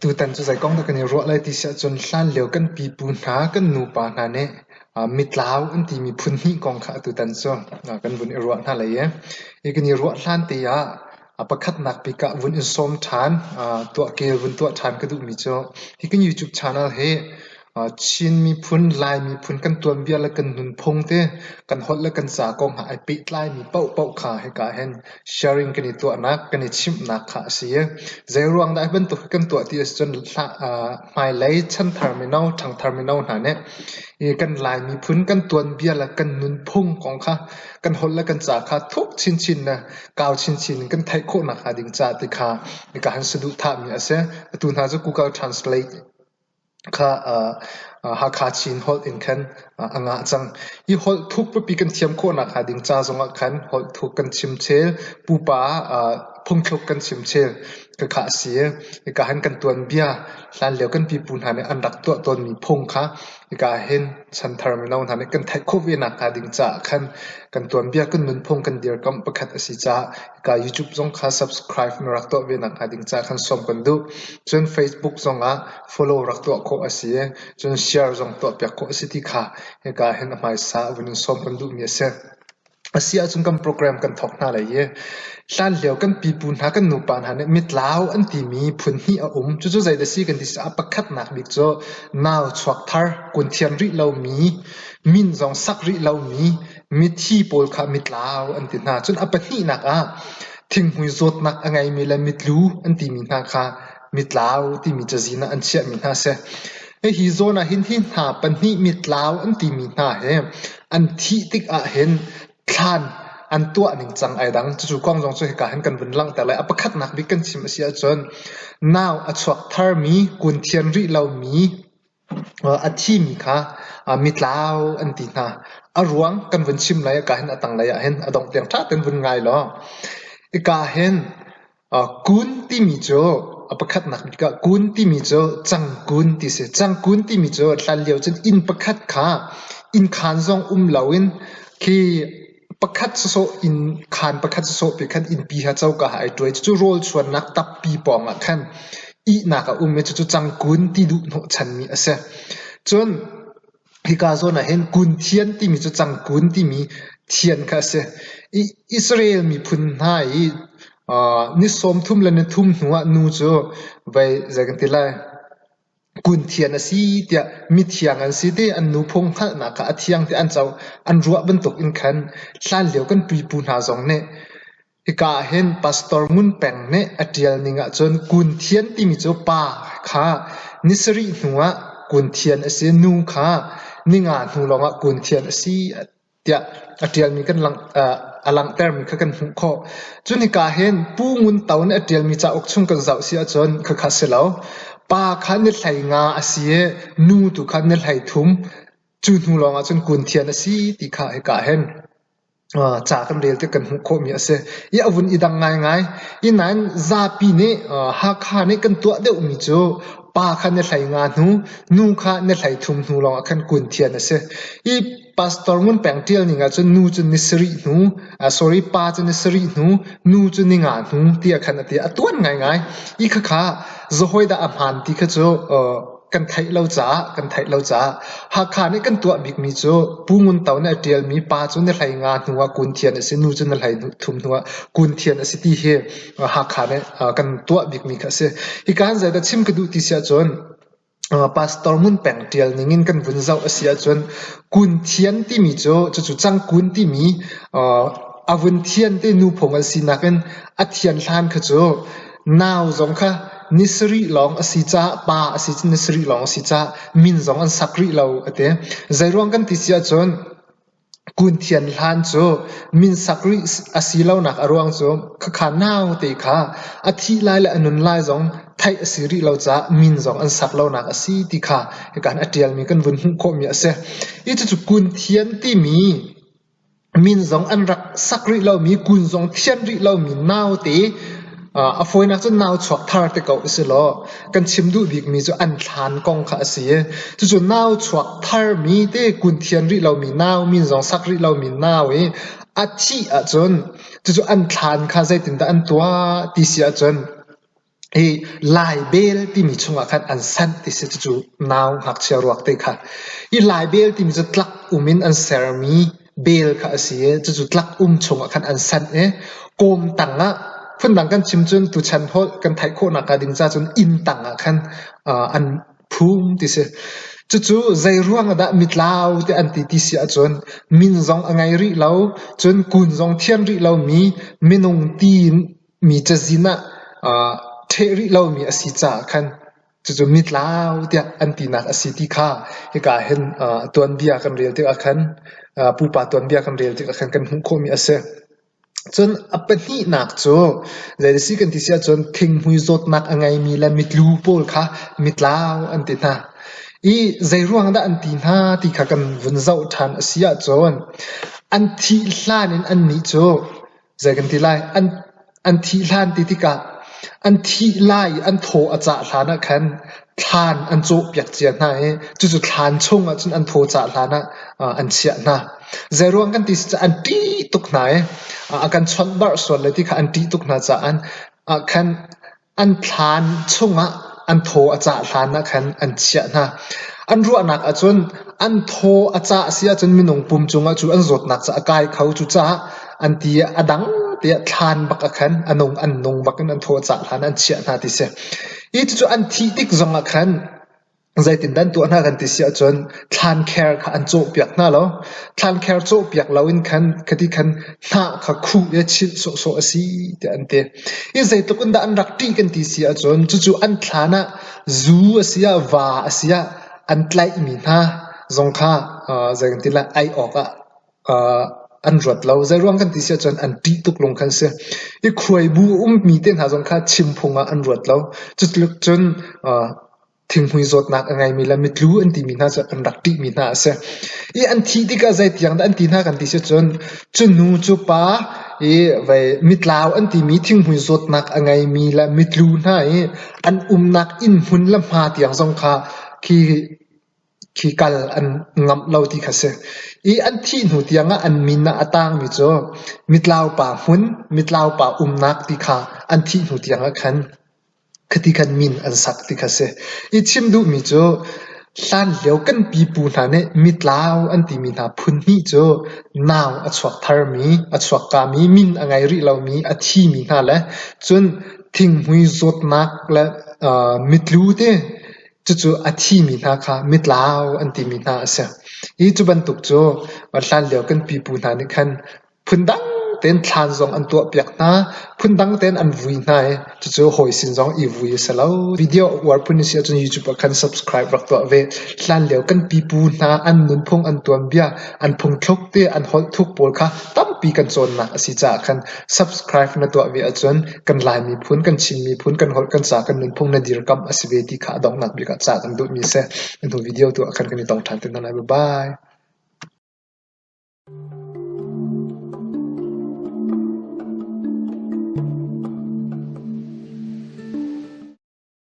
Tutan cu zei kong dah kan i ruah lai ti si ahcun hlan lio kan pipu hna, kan nupa hna nih mitlau an timi phun hnih kong kha atutan cu kan vun i ruah hna lai i, hi kan i ruah hlan te ah A pakhatnak bik ah vun in sawm ṭhan. Tuahke vun tuah ṭhan ka duhmi cu hi kan YouTube channel hi Chin miphun, Lai miphun kan tuan viar le kan nunphung te, kan holh le kan ca kong ah ai pehtlaimi paohpaoh kha hika ah hin sharing kan i tuahnak, kan i chimhnak kha a si i zeiruang dah hi bantuk hi kan tuah ti asicun hmailei chanthar mino, ṭhangthar mino hna nih i kan Lai miphun kan tuan viar le kan nunphung kong kha, kan holh le kan ca kha thuk chinchin le kau chinchin in kan theih khawhnak hnga ding caah ti kha nika han si duhthahmi a si. Atu hna cu Google Translate kha Hakha Chin holh in khan a ngah cang. Hi holh thuk pipi kan thiam khawhnak hnga ding ca zongah khan holh thuk kan chim chel, pupa phungthluk kan chim chel khakha a si. Nika han kan tuanbia hlanlio kan pipu hna nih an rak tuah tawnmi phung kha Hika ahhin chanthar mino hna nih kan theih khawh ve nakhnga ding caah khan kan tuanbia kan nunphung kan dirkamh pakhat a si caah hika YouTube zong kha subscribe na rak tuah ve nakhnga ding caah khan sawm kan duh. Cun Facebook zong ah follow rak tuah khawh a si i cun share zong tuahpiak khawh a si ti kha hika ahhin a hmaisa vun in sawm kan duhmi a si. A si ahcun kan program kan thawk hna lai i hlanlio kan pipu hna kan nupa hna nih mitlau an timi phunhnih a um. Cucu zeidah a si kan ti ah pakhatnak bik cu nau chuak thar, kun thiam rih lomi, min zong sak rih lomi, mithi pawl kha mitlau an ti hna. Cun a pahnihnak ah thinghmui zawtnak a ngeimi le mitlu an timi hna kha Mitlau timi cazin ah an chiahmi hna a si. Hihi zawn ahhin hi hna pahnih mitlau an timi hna hi an thih tik ahhin thlan an tuah ningcang ai dang. Cucu kong zong cu hika hin kan vun langhter lai. A pakhatnak bik kan chim a si ahcun nau a chuak tharmi, kun thian rih lomi, A thimi kha mitlau an ti hna. A ruang kan vun chim lai i kaa hin a tanglei ah hin a dongh tiang ṭha tein vun ngai law. Hika hin kun timi cu a pakhatnak bik ah kun timi cu cangkun ti a si. Cangkun timi cu hlan lio cun inn pakhat kha innkhan zong um loin khi Pakhat sawsawh in khaan pakhat sawsawh pe khan innpi kha coka ah ai ṭuai. Cucu rawlchuannak tappi pawngah khan ihnak a um i cucu cangkun ti duh hnawhchanmi a si. Cun hika zawn ah hin kun thian timi cu cangkun timi thian kha a si. I Israel miphun hna i ni sawmthum le ni thum hnuah nu cu voi zei kan ti lai? Kunthian a si tiah mithiang an si te an nu phung hngalhnak kha a thiang tiah an co. An ruah bantuk in khan hlanlio kan pipu hna zong nih hika ah hin Pastor Ngun Peng nih a ṭial ning ahcun Kunthian timi cu pa kha ni sarih hnu ah Kunthian a si, nu kha ni nga hnu lawng ah Kunthian a si. tiah a ṭialmi kan langh a langhtermi kha kan hmuh khawh. Cu hika hin Pu Ngun To nih a ṭialmi cauk chung kan zoh si ahcun khakha si lo. Pa kha na hlei nga a si i nu tu kha na hlei thum. Cu hnu lawng ahcun kun thian a si ti kha hika hin ca kan rel tiah kan hmuh khawhmi a si. I a vun i dang ngaingai. I nain zapi nih Hakha nih kan tuah deuhmi cu pa kha na hlei nga hnu, nu kha na hlei thum hnu lawng ah khan kun thian a si. I Pastor Ngun Peng ṭial ning ahcun nu cu ni sarih hnu, sorry, pa cu ni sarih hnu, nu cu ni nga hnu tiah khan a ti. A tuan ngaingai. I khakha zahawi dah a hmaan ti kha cu kan theih lo caah, kan theih lo caah. Hakha nih kan tuah bikmi cu Pu Ngun To nih a ṭialmi pa cu ni hlei nga hnu ah kun thian a si, nu cu ni hlei thum hnu ah kun thian a si ti hi Hakha nih kan tuah bikmi kha a si. Hika hin zeidah chim ka duh ti si ahcun, Pastor Ngun Peng ṭial ningin kan vun zoh a si ahcun Kun Thian timi cu cucu Cangkun timi a vun thian te nu phung an si nakin a thian hlan kha cu nau zong kha ni sarih lawng a si caah pa a si cun ni sarih lawng a si caah min zong an sak rih lo a ti. Zeiruang kan ti si ahcun Kun Thian hlan cu min sak rih a si lonak a ruang cu khakha naute kha a thih lai le a nun lai zong theih a si rih lo caah min zong an sak lonak a si ti kha hika in a ṭialmi kan vun hmuh khawhmi a si. Hi cucu Kun Thian timi min zong an rak sak rih lomi, kun zong thianh rih lomi naute A fawinak cu nau chuak thar te ko u si law kan chim duh bikmi cu an thlan kong kha a si i cucu nau chuak tharmi te kun thian rih lomi nau min zong sak rih lomi nau i a thih ahcun cucu an thlan kha zeitindah an tuah ti si ahcun hi laibel timi chungah khan an sanh ti si cucu nau ngakchia ruak te kha hi laibel timi cu tlak um in an sermi bel kha a si i cucu tlak um chungah khan an sanh i kawm tangah phundang kan chim cun tuchan holh kan theih khawhnak hnga ding cacun inn tangah khan an phum ti si cucu zei ruang dah mitlau te an ti ti si ahcun min zong a ngei rih lo cun kun zong thian rih lo mi minung ti mi cazin ah ṭheh rih lo mi a si caah khan Cucu mitlau tiah an tinak a si ti kha hika ah hin aa tuanbia kan rel tikah khan aa pupa tuanbia kan rel tikah khan kan hmuh khawhmi a si. Cun a pahnihnak cu zei a si kan ti si ahcun thinghmui zawtnak a ngeimi le mitlu pawl kha mitlau an ti hna. I zeiruang dah an ti hna ti kha kan vun zoh ṭhan a si ahcun an thih hlan in annih cu Zei kan ti lai? An, an thih hlan ti tikah an thih lai i an thaw a cah hlan ah khan thlan an cawhpiak cia hna i cucu thlan chung ah cun an thaw cah hlan ah uh, an chiah hna. Zeiruang kan ti cucah an ṭih tuk hna i uh, a kan chawnh barh sual le ti kha an ṭih tuk hna caah uh, khan An thlan chungah an thaw a cah hlanah khan an chiah hna. An ruahnak ahcun an thaw a cah a si ahcun minung pum cungah cu an zawtnak cu a kai kho. Cucaah an ti ah a dang tiah thlan bak ah khan a nung an nung bak in an thaw a cah hlan ah an chiah hna ti a si. Hi cucu an thih tik zongah khan Zeitindah an tuah hna kan ti si ahcun thlankhar kha an cawhpiak hna lo. Thlankhar cawhpiak loin khan khati khan hnah kha khuh i chilh sawhsawh a si tiah an ti. Hi zeitluk in dah an rak ṭih kan ti si ahcun cucu an thlan ah zu a si ah va a si ah an tlaihmi hna zong kha zei kan ti lai ai awk ah an ruat lo. Zeiruang kan ti si ahcun an ṭih tuk lung khan si. I khuaibu ummi te hna zong kha chim phung ah an ruat lo. Cutluk cun thinghmui zawtnak a ngeimi le mitlu an timi hna cu an rak ṭihmi hna a si. I an thih tikah zeitiang dah an ti hna kan ti si ahcun cu nu cu pa i vei mitlau an timi thinghmui zawtnak a ngeimi le mitlu hna i an umnak inn hmun le hma tiang zong kha khi khi kal an ngamh lo ti kha a si. I an thih hnu tiangah an min ah a tangmi cu mitlaupa hmun, mitlaupa umnak ti kha an thih hnu tiangah khan khiti khan min an sak ti kha a si. I chim duhmi cu hlanlio kan pipu hna nih mitlau an timi hna phunhnih cu nau a chuak tharmi, a chuakkami, min a ngei rih lomi, a thimi hna le cun thinghmui zawtnak le mitlu te Cucu a thimi hna kha mitlau an timi hna a si. Hi cu bantuk cu hlan lio kan pipu hna nih khan phundang tein thlan zong an tuahpiak hna, phundang tein an vui hna i cucu hawi sin zong i vui a si lo. Video uar phun i si ahcun YouTube ah khan subscribe rak tuah ve. Hlan lio kan pipu hna an nunphung an tuanbia, an phungthluk te an holh thuk pawl kha tampi kan cawnnak a si caah khan subscribe na tuah ve ahcun kan Lai miphun, kan Chin miphun, kan holh, kan ca, kan nunphung le dirkamh a si ve ti kha a donghnak bik ah cah kan duhmi a si. Na hnu video tu ah khan kan i tong ṭhan te hna lai. Bye-bye.